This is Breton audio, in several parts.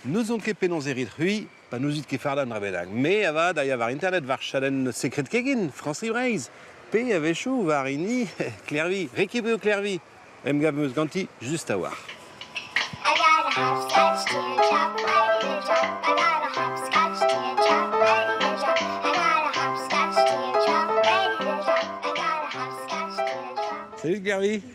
N'ouzon ket penaos e rit c'hwi pa n'ouzit ket fardañ dra bennak. Me avat a ya war internet war chadenn Sekred Kegin, Frañs-Breizh. Pe a-wechoù war hini Klervi, Réquillbeu Klervi. Emgav 'm eus ganti just a-walc'h. Salut Klervi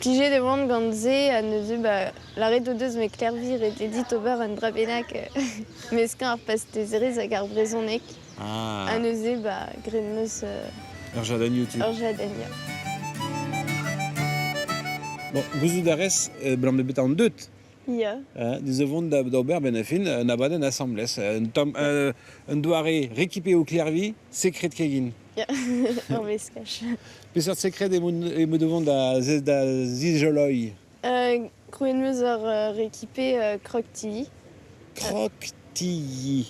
Plijet e oan gant se ha neuze ba lâret o deus ma klervi ret eo dit ober un dra bennak meskañ ar pastezerezh hag ar brezhoneg ha Ah, neuze ba graet 'm eus euh, ur jardin YouTube. ur jadenn ya. Bon, gouzout a rez, abalamour bet an deut, Ya. hein, ez vont da- d'ober ben a fin un abadenn asambles, un, tom, un, un doare récupéré au Clervi, secret kegin. Ur veskaj. Peseurt sekred eo me devant da, da zizoloiñ? Uh, krouet meus ur uh, rekipe uh, Croc TV. Croc TV.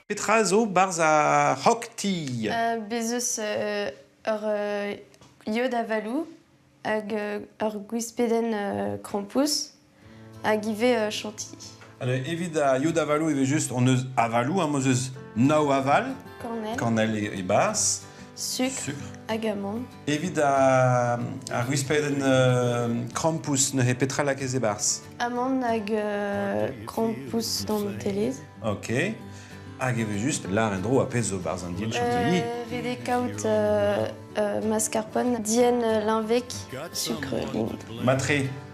Petra zo barzh ar Rock Tea? Uh, bez eus uh, ur uh, iod avaloù hag uh, ur gwispedenn uh, krampouezh. hag ivez euh, chantilly. Evit ar yod avalou, evel-just, on eus avalou, am eus eus nao aval, Cornel, cornel e, e bas, sucre, sucre. agamon, Evit ar ar gwispadenn euh, krampouss neuze petra lakez e barz? amand hag euh, krampouss d'an Nutellez. Ok. Hag evel-just, lar en-dro a pezh zo barz an din chantilly. Euh, vede kaout euh, euh, mascarpone, dien euh, linvec, sucre lind. Matre,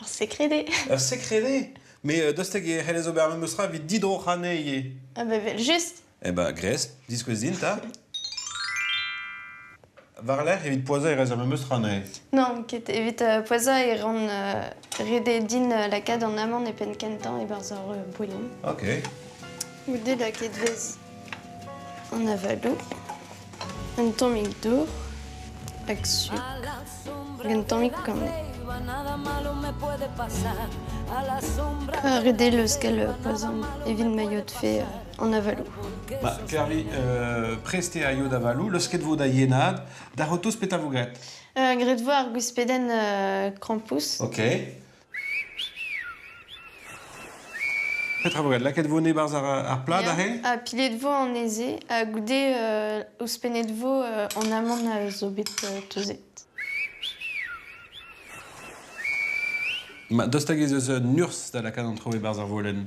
Ur secrede Ur secrede Mais euh, dost hag e c'hellez ober memes tra evit didroc'hañ ivez. Ah bah vel-just Eh ben, gres, diskouez din, ta. War-lerc'h, evit poazhañ e rez ar memes tra neuze. Non, ket evit euh, poazhañ e ran euh, redet din euh, lakaat an amant e penn kentañ e-barzh ur euh, bouillon. Ok. Goude lakaet vez. an avaloù, un tammig dour hag suk hag un tammig kamoù. Ur deleuskel pa 'z omp evit ma yodfe euh, an avaloù. Ba, Kervi, euh, prestiñ a yod avaloù, leusket vo da yenad, da c'hotoz petra vo graet? Uh, graet vo ar gwispedenn uh, krampouezh. Ok. Petra vo graet lakaet vo e-barzh ar plad aze? Ya, ha piled vo anezhe ha goude ouzhpennet vo an amann a zo bet teuzet. Ma dost hag ez eus un urzh da lakaat an traoù e-barzh ar volenn?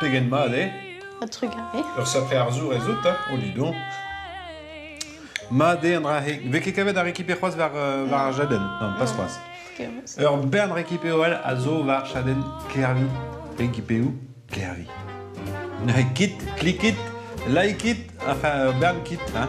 Pegen mat eo? Ha trugarez. Ur safre arzour ez out, hein, Olidon Mat eo an dra-se. Vez ket kavet ar récupé c'hoazh war, euh, war ar jaden Non, pas c'hoazh. Ur bern récupéoel a zo war chadenn Kervi. Récupéou Kervi. Kit, klikit, likit, enfin, ur bern kit, hein